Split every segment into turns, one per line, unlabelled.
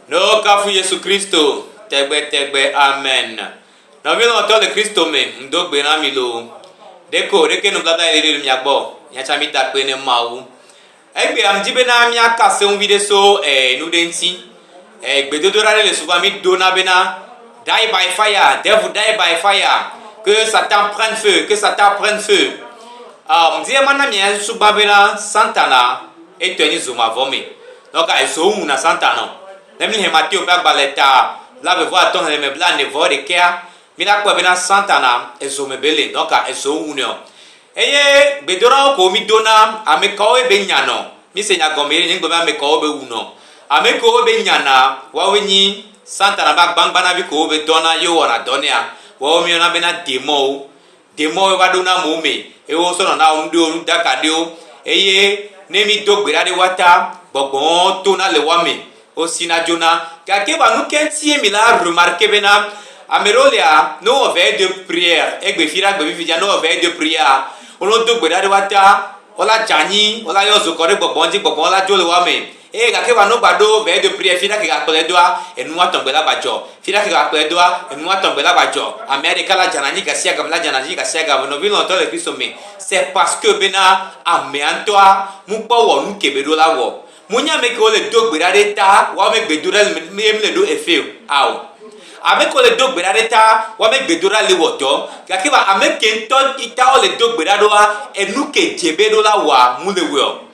Ne wokafu Yesu Kristo tegbetegbe. Amen. Nɔvi lɔlɔ̃tɔ le Kristo me, ŋdo gbe na mi loo. Ɖeko ɖeke nubladã yeli ɖe mia gbɔ, miatsã mida kpe ne Mawu. Egbea mdi bena miaka seŋ viɖe so eh, nu ɖe ŋuti. Eh, gbedodoɖa ɖe le souvent mi dona bena die by fire, devil die by fire, que Satan prenne feu, que Satan prenne feu. Ah, mdi emana mia susu gbã bena Satana Etɔe nye zo mavɔ me. Nɔ ka ezo ŋu na Satan nɔ? Ne míexlẽ Mateo ƒe agbalẽ ta blaeve-vɔ-atɔ̃ xexlẽme blaene-vɔ-ɖekɛa, míakpɔe bena Satana ezo me bele. Nɔ ka ezo ŋu nɛɔ? Eye gbedoɖawo ko mído na ame kawoe be nya nɔ? Míese nya gɔme ɖe, nye ŋugbe be ame kawo be wu nɔ. Ame kewo be nya na, woawoe nyi Satana ƒe agbagbanavi kewo be dɔna ye wowɔna dɔ nɛa, woawo míeyɔna bena demɔwo. Ɖe mɔ wova ɖo na mɔ me eye wo sɔnɔ na ŋɖe wo nuɖaka ɖewo eye ne mi do gbe ɖa ɖe wa ta gbɔgbɔwo to na le wa me wo si na djo na. Gake wa nu ke ŋtie mi la remarke be na ame ɖewo lia ne wo vɛ de prière egbe fi ɖe agbe fifi dja ne wo vɛ de prière a wo no do gbe ɖa ɖe wa ta wo la dja anyi wo la yɔ zokɔ ɖe gbɔgbɔ ŋdji gbɔgbɔ wo la djo le wa me Eye gake va nogba ɖo vɛ do priɛ fida ke gakplɛ doa enu woatɔ gbe la va dzɔ fida ke gakplɛ doa enu woatɔ gbe la va dzɔ amea ɖeka la dzana dzi gasiagame la dzana dzi gasiagame nɔvi lɔlɔtɔ le Kristo me se paske bena amea ŋtɔa mu kpɔ wɔ nuke be ɖo la wɔ mu nye ame kewo le do gbe ɖa ɖe ta woa me gbe do ɖa le me ye mle ɖo efe ao ame kewo le do gbe ɖa ɖe ta woa me gbe do ɖa le wɔ dɔ gake va ame ke ŋtɔ yi ta wole do gbe ɖa ɖoa enu ke dze be ɖo la wɔa mu le wɔe o.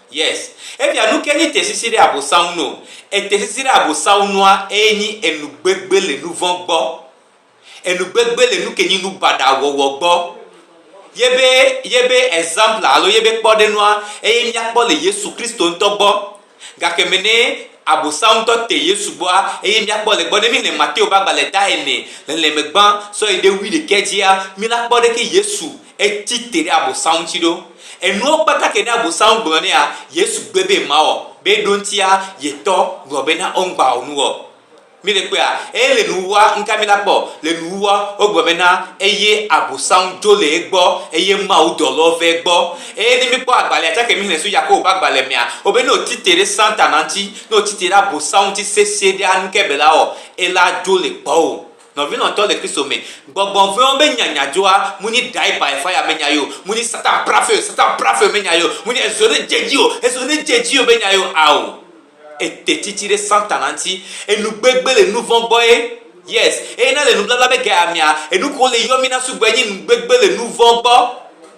Yes efia nuke nyi tesisi ɖe abosanŋu no etesisi ɖe abosanŋu nua eye nyi enugbegbe le nuvɔ gbɔ enugbegbe le nuke nyi nubaɖa wɔwɔ gbɔ yebe yebe example alo yebe kpɔɖenua eye miakpɔ le yesu kristo ŋtɔ gbɔ gake me ne abosanŋu ŋtɔ te yesu gbɔa eye miakpɔ le gbɔ ne mi le mateo ba gbale da ene le le me gbã sɔyi ɖe wuiɖekɛ dzia mi la kpɔ ɖeke yesu Etsi te ɖe Abosam ŋuti ɖo. Enuwo kpata ke ɖe Abosam gblɔ nɛa, Yesu gbe be mawɔ, be eɖoŋtia ye tɔ gblɔ be na womgba wɔ nuwɔ. Mi le kpɔea? Eye le nuwuwua, nuka mi la kpɔ? Le nuwuwua, wogblɔ be na eye Abosam dzo le egbɔ, eye Mawu dɔlɔwo va egbɔ. Eye ne mi kpɔ agbalea tsake mi xlẽ so Yakobo ƒe agbalẽ mea, wo be ne wo tsi te ɖe Satana ŋuti, ne wo tsi te ɖe Abosam ŋuti sesĩe ɖea, nukae be la wɔ? Ela dzo le gbɔwo. Nɔvi lɔntɔ le Kristo me, gbɔgbɔ vɛ̃wo be nya nya dzoa mu nyi die by fire me nya yio, mu nyi Satan prafeo Satan prafeo me nya yio, mu nyi ezo ne dze dzi o ezo ne dze dzi o be nya yio ao. Ete tsitsi ɖe Satana ŋuti. Enu gbegbe le nuvɔ̃ gbɔe. Yes. Eye na le nubabla be ge amea, enuko le yɔ mi na sugbɔ enyi nu gbegbe le nuvɔ̃ gbɔ.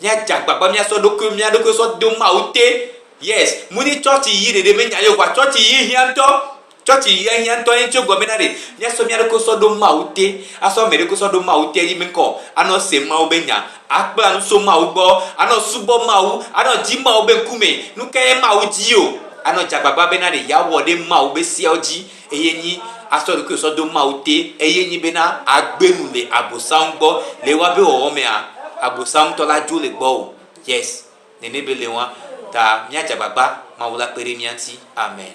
Mía dze agbagba mía sɔ ɖokui mía ɖokui sɔ do Mawu te. Yes. Mu ni tsɔtsi yi ɖeɖe me nya Yehowa. Tsɔtsi yi hiã ŋutɔ. Tsɔtsi yia hiã ŋutɔ ye ŋutsi wo gɔme na ɖe. Mía sɔ mía ɖokui sɔ ɖo Mawu te. A sɔ ame ɖokui sɔ ɖo Mawu te yi me ŋkɔ. A nɔ se Mawu be nya. A kpla nu so Mawu gbɔ. A nɔ subɔ Mawu. A nɔ dzi Mawu be ŋkume. Nukae Mawu dii o? A nɔ dze agbagba be na ɖe yea wɔ ɖe Mawu be seawo dzi. Eye nyi asɔ ɖokuiwò sɔ do Mawu te, eye nyi bena agbe nu le Abosam gbɔ. Le woa be wɔwɔ mea, Abosam tɔ la dzo le gbɔwò. Yes. Nene be le wɔa. Ta mia dze agbagba Mawu la kpe ɖe mia ŋuti. Amen.